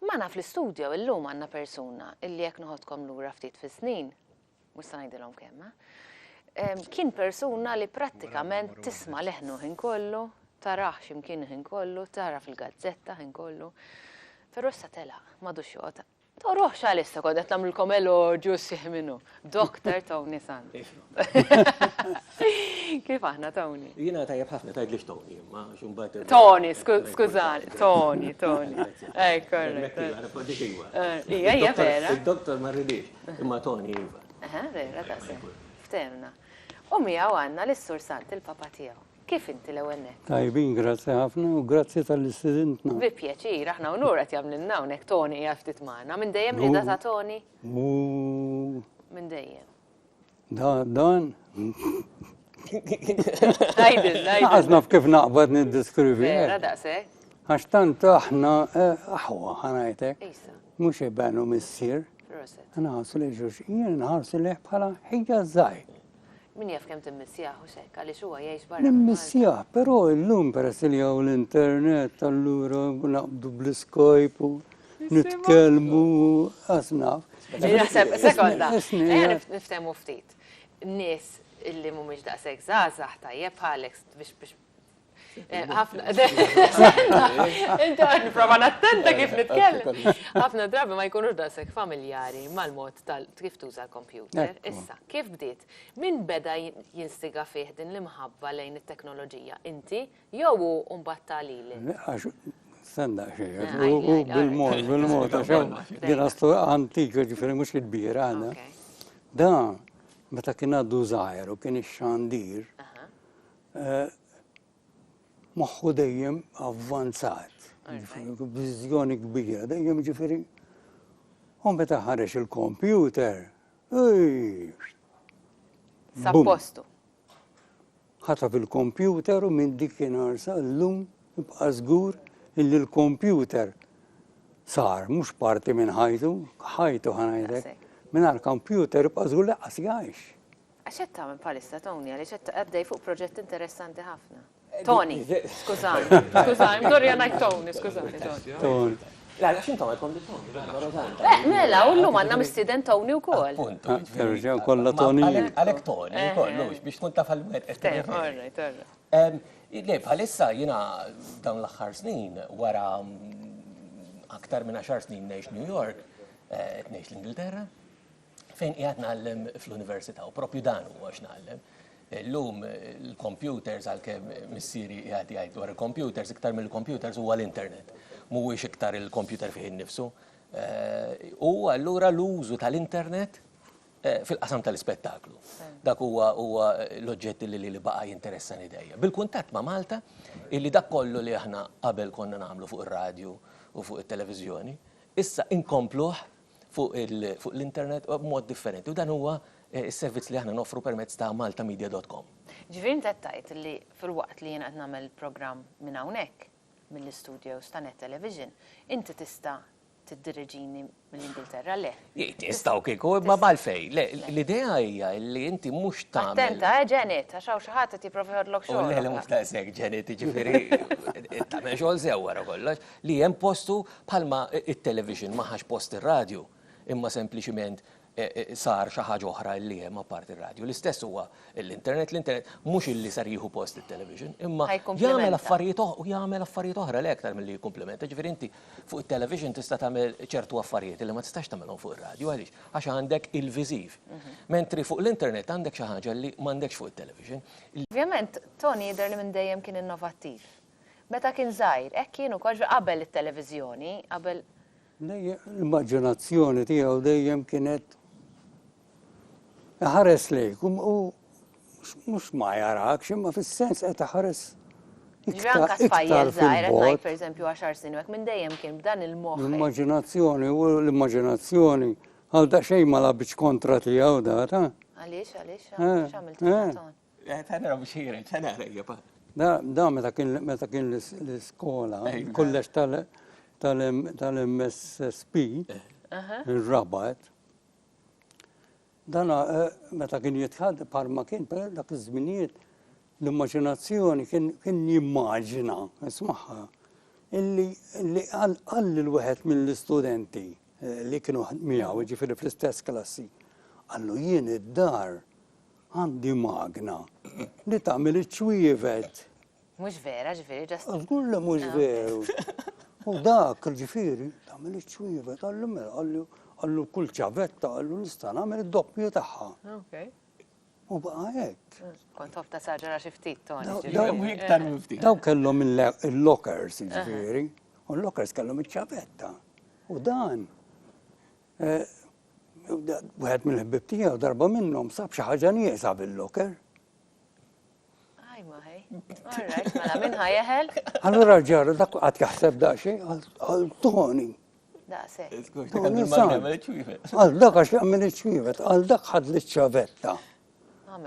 Magħna fl-istudio illum għandna persuna illi jekk noħodkom lura ftit fis-snin, mhux se ngħidilhom kemm, eh, kien persuna li prattikament tisma' leħnu ħin kollu, taraħ x'imkien ħin kollu, tara fil-gazzetta ħin kollu. Però issa telaq, m'għadux joqgħod Toruhx għalissa kont qed nagħmlilkom elogju sħiħ minnu. Dr. Tony Sant. Kif aħna Tony? Jiena tajjeb ħafna tgħidlix Tony, ma xumbat. Tony, skużani, Tony, Tony. Ej, korrekt. Ija, ija vera. Dr. ma rridix, imma Tony iva. Aha, vera, ta' Ftemna. U miegħu għandna l-Sur Sant il-papa tiegħu. Kif inti l-ewwel nett? Tajbin, grazzi ħafna u grazzi talli stidintna. Bi pjaċir, aħna unur qed jagħmlilna hawnhekk Toni qiegħed ftit magħna. Minn dejjem l-idea ta' Toni? Minn dejjem. Da, dan. Għajdil, għajdil. Għazna f'kif naqbad nid-diskrivi. Vera, eh? daqsek. Għax tant aħna, eh, aħwa, ħanajtek. Isa. Mux ibenu missir. Roset. Għana għasu li ġuġ, jien għasu li bħala ħija zaħi. Min jaf kemm timmissjah u x'hekk għaliex huwa jgħix barra. Nimmissjah, però illum peress li hawn l-internet allura naqbdu bl-iskojp u nitkellmu qas naf. Naħseb sekonda, niftehmu ftit. Nies illi mhumiex daqshekk żgħażagħ tajjeb bħalek biex ħafna. Inti għad niprofa nattenta kif nitkellem. ħafna drabi ma jkunux dasek familjari mal-mod tal kif tuża l-kompjuter. Issa, kif bdiet? Min beda jinstiga fih din l-imħabba lejn it-teknoloġija? Inti jew u mbatta li li? Senda xejn, u bil-mod, bil-mod, għax din għastu antika ġifiri mux il-bira għana. Da, meta kien għaddu zaħir u kien ix-xandir, moħħu dejjem avvanzat, b'viżjoni kbira dejjem ġifieri. U meta ħareġ il-kompjuter, Sappostu. Ħata fil-kompjuter u minn dik inarsa l-lum ibqa' żgur illi l-kompjuter sar mhux parti minn ħajtu, ħajtu ħanajdlek. Mingħajr kompjuter ibqa' żgur laqqas jgħix. Għax qed tagħmel bħalissa, Tony, għaliex qed għaddej fuq proġett interessanti ħafna. Tony, skużani, skużani, mdorja ngħid Tony, skużani, Tony. La, għax intom għadkom li Tony. Eh, mela, u llum għandna mistieden Tony wkoll. Punt. Ah, terġa' kollha Tony. Għalhekk Tony, eh, kollox eh. biex tkun taf għal-wet. Le, bħalissa jiena dawn l-aħħar snin wara mm, aktar minn 10 snin ngħix New York, ngħix l-Ingilterra. fejn qiegħed ngħallem fl-università u proprju dan huwa x'nagħllem. Illum il-computers għalkemm missieri qiegħed jgħid dwar il-computers iktar mill-computers huwa l-internet. Mhuwiex iktar il-computer fih innifsu. Eh, u allura l-użu tal-internet eh, fil-qasam tal-ispettaklu. Dak huwa huwa l-oġġetti li li baqa' jinteressani dejja. Bil-kuntatt ma' Malta, illi dak kollu li aħna qabel konna nagħmlu fuq ir-radju u fuq it-televiżjoni, issa inkompluh fuq l-internet b'mod differenti u dan huwa s-servizz li aħna noffru permezz ta' maltamedia.com. Ġifieri int qed tgħid li filwaqt li jiena qed nagħmel il-programm minn hawnhekk, mill-istudios ta' Net Television, inti tista' tiddiriġini mill-Ingilterra, le? Tista' u kieku, imma għalfejn? Le, l-idea hija li inti mhux tagħmel. Attenta, eh, Janet, għax hawn xi ħadd qed jipprova jħodlok xogħol. Le, le, mhux daqshekk, Janet, jiġifieri tagħmel xogħol sew wara kollox. li hemm postu bħalma t-television ma ħax post ir-radju imma sempliċiment sar xi ħaġa oħra li hemm apparti r-radju. L-istess huwa l-internet, l-internet mhux illi sar jieħu post it-television imma jagħmel affarijiet u jagħmel affarijiet oħra le aktar milli jikkumplimenta. Ġifieri inti fuq it-television tista' tagħmel ċertu affarijiet illi ma tistax tagħmilhom fuq ir-radju għaliex? Għax għandek il-viżiv. Mentri fuq l-internet għandek xi ħaġa li m'għandekx fuq it-television. Ovvjament, Tony jidher li minn dejjem kien innovattiv. Meta kien żgħir, hekk kien ukoll ġifieri qabel it-televiżjoni, qabel. L-immaġinazzjoni tiegħu dejjem kienet iħares lejk u mhux ma jarakx imma fis-sens qed iħares Ġranka spajjel zaħir, għetnajt per eżempju għaxar snin, għek minn dejjem kien b'dan il-moħ. L-immaginazzjoni, u l-immaginazzjoni, għal da xej ma labċ kontra tijaw da, ta? Għalix, għalix, eh, għamil eh. Ta' naraw biex jiren, ta' naraw jibba. Da meta kien meta kien l-iskola, kollex tal-MSSP, il-rabat, dana eh, meta kien jitħad parma kien per dak iż-żminijiet l-immaġinazzjoni kien jimmaġina, ismaħħa, illi għall l-wieħed mill-istudenti eh, li kienu miegħu, ġifieri fl-istess klassi, għallu jien id-dar Għandi magna li tagħmel iċ-ċwievet. Mhux vera, ġifieri ġast. Żgur li mhux veru. U dak, ġifieri, tagħmel iċ-ċwievet, għallu mela, għallu għallu kull ċavetta għallu nista' nagħmel id-doppju tagħha. Okay. U baqa hekk. Kont ħobb ta' saġara xi ftit toni. Daw kellhom il-lockers, ġifieri, u l-lockers kellhom iċ-ċavetta. U dan Wieħed mill-ħbieb tiegħu darba minnhom sab xi ħaġa nieqsa bil-locker. Aj ma ħej. Alright, mela minn ħajeħel? Allura ġara dak qatt jaħseb daqsxejn għal Tony. Daqsek. Għal dak għax jagħmel iċ-ċwievet, għal dak ħad li ċavetta.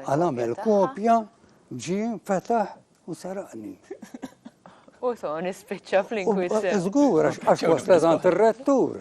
Għal għamel kopja, ġi, fetaħ u saraqni. U Tony spiċċa fl-inkwizzjoni. Żgur għax waslet għand ir-rettur.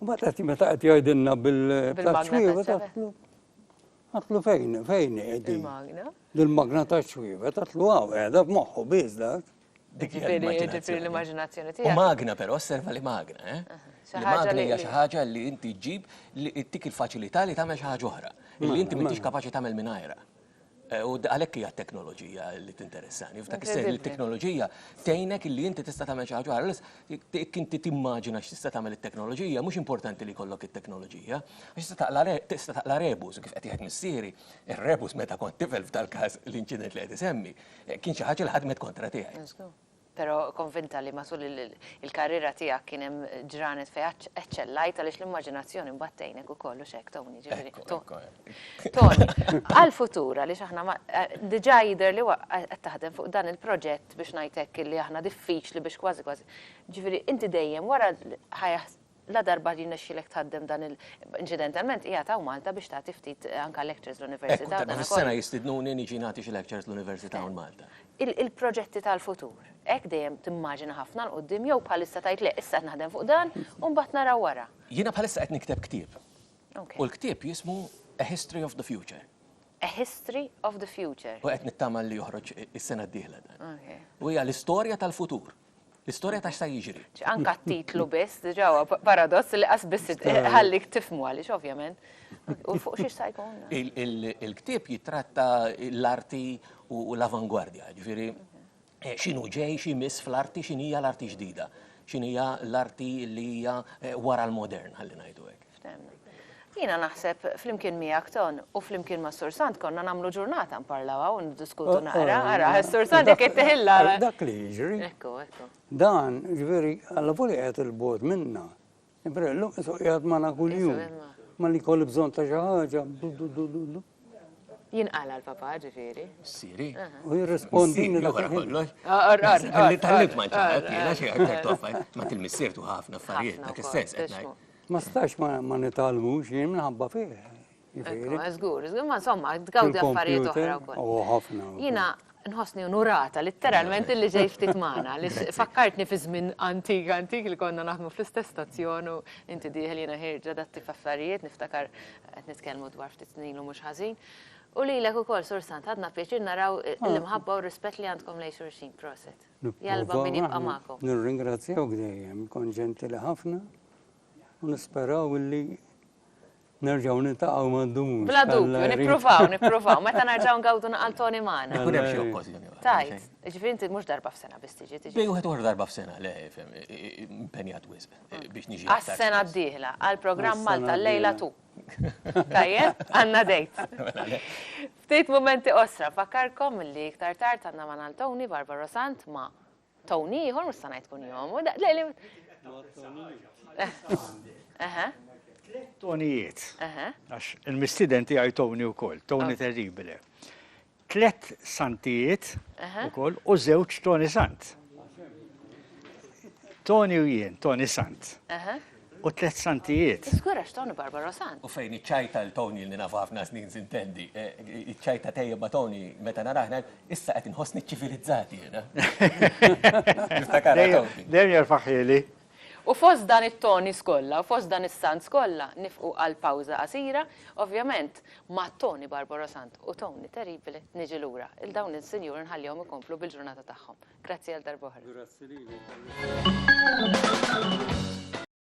U ma tati meta qed jgħidilna bil-taċwiva tatlu. Tatlu fejn, fejn qegħdi. Dil-magna taċwiva tatlu għaw qiegħda f'moħħu biż dak. Dik l-immaġinazzjoni tiegħek. U magna però osserva li magna, eh? Magna hija xi ħaġa li inti ġġib li ttik il-faċilità li tagħmel xi ħaġa oħra. Li inti m'intix kapaċi tagħmel mingħajrha. Eh, u għalhekk hija teknoloġija li tinteressani. F'dak is-sens li t-teknoloġija tgħinek li inti tista' tagħmel xi ħaġa ħares, inti timmaġina x'tista' tagħmel it-teknoloġija, mhux importanti li jkollok it-teknoloġija. Għax tista' taqla rebus, kif qed jgħid missieri, ir-rebus meta kont tifel f'dal-każ l-inċident li qed isemmi, eh, kien xi ħaġa li ħadmet kontra tiegħi. Però konvinta li matul il-karriera tiegħek kien hemm ġranet fejn eċċellajt għaliex l-immaġinazzjoni mbagħad tgħinek ukoll hux hekk Tony, ġifieri. Tony, għall-futur għaliex aħna diġà jidher li qed taħdem fuq dan il-proġett biex ngħid hekk illi aħna diffiċli biex kważi kważi, ġifieri inti dejjem wara Ladarba jirnexxielek tħaddem dan il-, inċidentalment qiegħed hawn Malta biex tagħti ftit anke lectures l-Università u dan kollu. Hekk, darba fis-sena jistidnuni niġi nagħti xi lectures l-Università hawn Malta. Il-proġetti tal-futur, hekk dejjem timmaġina ħafna 'l quddiem jew bħalissa tgħid le, issa qed naħdem fuq dan u mbagħad naraw wara? Jiena bħalissa qed nikteb ktieb. U l-ktieb jismu A History of the Future. A History of the Future. U qed nittama li joħroġ is-sena d-dieħla dan. U hija l-istorja tal-futur. L-istorja ta' x'sa jiġri. Anke t-titlu biss, diġà huwa paradoss li qas biss ħallik tifhmu għaliex ovvjament. U fuq xiex sa jkun? Il-ktieb jitratta l-arti u l-avangwardja, ġifieri x'inhu ġej, xi miss fl-arti, x'inhija l-arti ġdida, x'inhija l-arti li hija wara l-modern, ħalli ngħidu hekk. Ftemna. Jiena naħseb, flimkien miegħek Ton, u flimkien ma' Sur Sant konna nagħmlu ġurnata nparlaw hawn u niddiskutu naqra, ara, Sur Sant jekk ittihilha. Dak li jiġri. Ekku, ekku. Dan, ġifieri, alla volja qiegħed il-bogħod minna. Ġifieri llum qisu qiegħed magħna kuljum. Ma li jkolli bżonn ta' xi ħaġa. Jinqala l-papa, ġifieri. Siri. U jirrispondi. Wara kollox. Arqar. Li tal-lib ma ġara, tiena xi aktar toffa. Ma til-missier tu ħafna affarijiet, dak is-sens qed ngħid. Ma stax ma nitgħallmux jien minħabba fih. Żgur, żgur, ma insomma, tgawdi affarijiet oħra wkoll. Oh, ħafna. Jiena nħossni unurata litteralment li ġej ftit magħna li fakkartni fi żmien antik antik li konna naħdmu fl-istess stazzjon u inti dieħel jiena ħirġa datti f'affarijiet niftakar qed nitkellmu dwar ftit snin u mhux ħażin. U li l-ek u kol sursant, għadna pieċir naraw ah. l-imħabba u rispet li għandkom lej xurxin, proset. Jalba min jibqa maħkom. Nirringrazzjaw għdejjem, konġenti li ħafna. U nisperaw illi nerġaw nintaqaw ma' dum. Bla dubju, nippruvaw, nippruvaw, meta nerġaw ngawdu naqal Tony Mana. Ikun hemm xi okkożjoni. Tajt, ġifieri inti mhux darba f'sena biss tiġi. Bej wieħed uħra darba f'sena, le, impenjat wisq biex niġi. Għas-sena d-dieħla, għall-programm Malta l-lejla tu. Tajjeb, għandna dejt. Ftit mumenti qosra, nfakkarkom li iktar tard għandna Mana Tony, Barbara Sant, ma' Tony ieħor mhux sa ngħid kunjomu. Tonijiet. Għax il-mistiden tiegħi Tony wkoll, Tony oh. terribile. Tlet santijiet ukoll u żewġ Tony Sant. Tony u jien, Tony Sant. u tliet santijiet. Is-squirrax Tony Barbaro sant. U fejn iċċajta l Tony li nafu ħafna snin sintendi. Iċċajta tejjeb ma' Tony meta narah ngħid, issa qed inħossni ċċivilizzat jiena. Niftakarha Tony. Dejjem jerfaħhieli. U fost dan it-Tonys kollha, u fost dan is-Sants kollha, nifqu għal pawża qasira, ovvjament ma' Tony Barbaro sant u Tony Terribile niġi lura. 'l dawn is-sinjuri nħallihom ikomplu bil-ġurnata tagħhom. Grazzi għal darb'oħra. Grazzi lilek.